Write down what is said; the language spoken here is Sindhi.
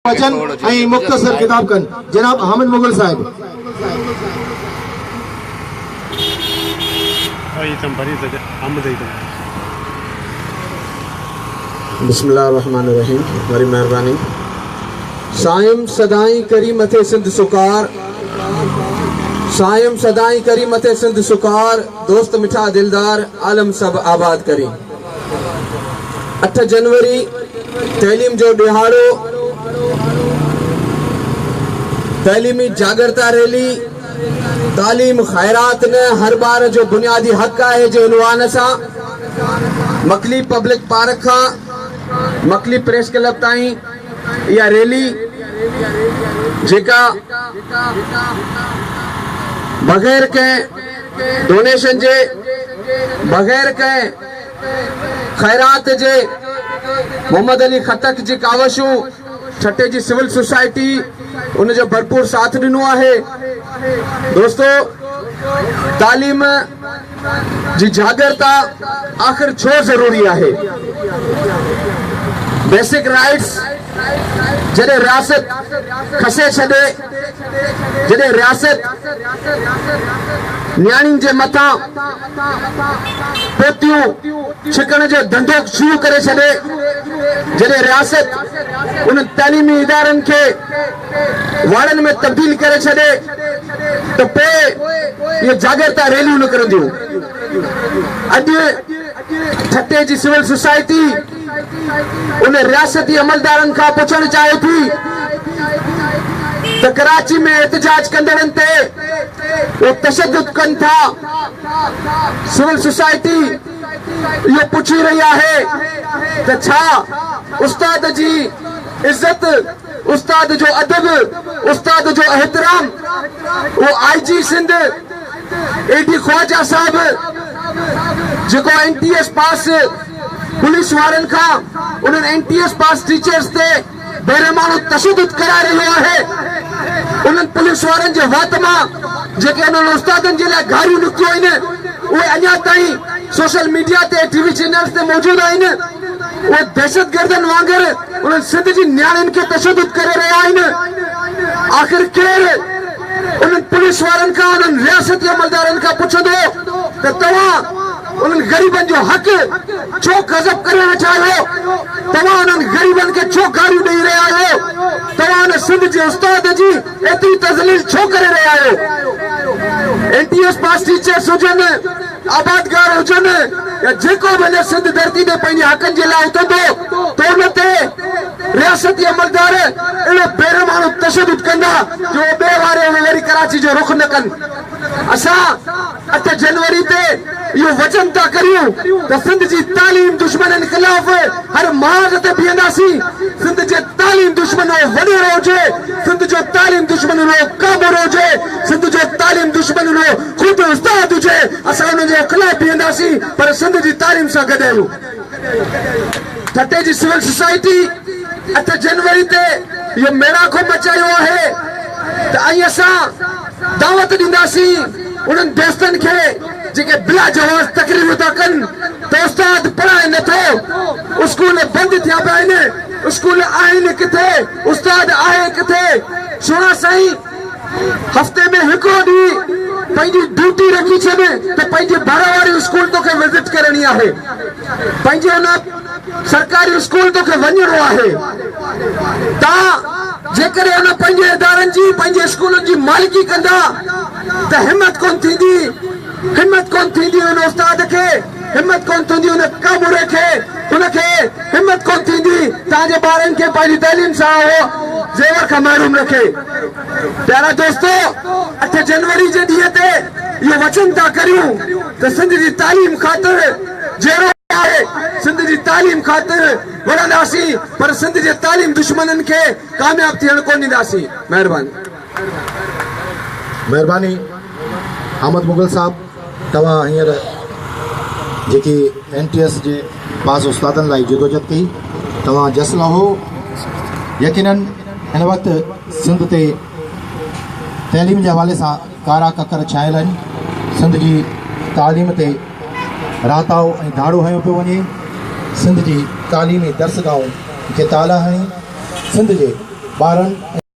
اچن ۽ مختصر خطاب ڪن جناب حامد مغل صاحب. بسم الله الرحمٰن الرحيم وڏي مهرباني سائين سدائين ڪري مٿي سنڌ سڪار سائين سدائين ڪري مٿي سنڌ سڪار دوست مٺا دلدار عالم سڀ آباد ڪري. اٺ جنوري تعليم جو ڏهاڙو، تعليمي جاڳرتا ريلي تعليم خيرات نه هر ٻار جو بنيادي حق آهي جي عنوان سان مڪلي پبلڪ پارڪ کان مڪلي پريس ڪلب تائين اها ريلي جيڪا بغير ڪنهن ڊونيشن جي بغير ڪنهن خيرات جي محمد علي خٽڪ جي ڪاوشون ٺٽي جي سول سوسائٽي ان جو ڀرپور ساٿ ڏنو آهي دوستو تعليم جي جاڳرتا آخر ڇو ضروري آهي بيسڪ رائيٽس جڏهن رياست کسي ڇڏي جڏهن رياست نياڻين جي مٿان پوتيون ڇڪڻ جو ڌنڌو شروع ڪري ڇڏي، جڏهن رياست انهن تعليمي ادارن کي واڙن ۾ تبديل ڪري ڇڏي ته پوء اهي جاڳرتا ريليون نڪرنديون. اڄ ٺٽي جي سول سوسائٽي، ان رياستي عملدارن کان پڇڻ چاهي ٿي ته ڪراچي ۾ احتجاج ڪندڙن تي هو تشدد ڪن ٿا، سول سوسائٽي اهو پڇي رهي آهي ته ڇا استاد جي عزت، استاد جو ادب، استاد جو احترام اهو آء جي سنڌ، اي ڊي خواجه صاحب جيڪو N T S pass police وارن کان انهن N T S pass teachers تي بيرحمانو تشدد ڪرائي رهيو آهي انهن پوليس وارن جي وات مان جيڪي انهن استادن جي لاء گاريون نڪتيون آهن اهي اڃا تائين سوشل ميڊيا تي ٽي وي چينلز تي موجود آهن اهي دهشتگردن وانگر انهن سنڌ جي نياڻين کي تشدد ڪري رهيا آهن آخر ڪير انهن پوليس وارن کان انهن رياستي عملدارن کان پڇندو ته توهان انهن غريبن جو حق ڇو قذف ڪري ويٺا آهيو؟ توهان انهن غريبن کي ڇو گاريون ڏئي رهيا آهيو؟ توهان ان سنڌ جي استاد جي ايتري تذليل ڇو ڪري رهيا آهيو؟ N T S pass teachers هجن آبادگار هجن يا جيڪو به هن سنڌ ڌرتي تي پنهنجي حقن جي لاء اٿندو ته ان تي رياستي عملدار اهڙو بيرحماڻو تشدد ڪندا جو اهو ٻئي واري اهو وري ڪراچي جو رخ نه ڪن. اسان اٺ جنوري تي اهو وچن ٿا ڪريون ته سنڌ جي تعليم دشمنن خلاف هر محاذ تي بيهنداسين. سنڌ جي تعليم دشمن اهو وڏيرو هجي، سنڌ جو تعليم دشمن اهو ڪابورو هجي، سنڌ جو تعليم دشمن اهو خود استاد هجي اسان انهن جي خلاف بيهنداسين پر سنڌ جي تعليم سان گڏ آهيون. ٺٽي جي سول سوسائٽي اٺ جنوري تي اهو ميڙاڪو مچايو آهي ته ائين اسان دعوت ڏينداسين انهن دوستن کي جيڪي بلا جواز تقريرون ٿا ڪن ته استاد پڙهائي نه ٿو اسڪول بند ٿيا پيا آهن اسڪول آهن ڪٿي استاد آهي ڪٿي سهڻا سائين هفتي ۾ هڪڙو ڏينهن پنهنجي ڊيوٽي رکي ڇڏ ته پنهنجي ڀر واري اسڪول توکي وزٽ ڪرڻي آهي. پنهنجي ان سرڪاري اسڪول توکي وڃڻو آهي. تان جيڪڏهن ان پنهنجي ادارن جي پنهنجي اسڪولن جي مالڪي ڪندا ته همت ڪونه ٿيندي همت ڪونه ٿيندي ان استاد کي. همت ڪونه ٿيندي ان ڪاموري کي ان کي همت ڪونه ٿيندي تان جي ٻارن کي پنهنجي تعليم سان اهو زيور کان محروم رکي پيارا دوستو اٺ جنوري جي ڏينهن تي اهو وچن ٿا ڪريون ته سنڌ جي تعليم خاطر جيئرو آهي سنڌ جي تعليم خاطر وڙهنداسين پر سنڌ جي تعليم دشمنن کي ڪامياب ٿيڻ ڪونه ڏينداسين مهرباني. مهرباني احمد مغل صاحب توهان هينئر جيڪي اين ٽي ايس جي پاس استادن لاء جدوجهد ڪئي توهان جس لهو يقينن هن وقت سنڌ تي تعليم جي حوالي سان ڪارا ڪڪر ڇانيل آهن سنڌ جي تعليم تي راتاو ۽ ڌاڙو هنيو پيو وڃي سنڌ جي تعليمي درسگاهون کي تالا هڻي سنڌ جي ٻارن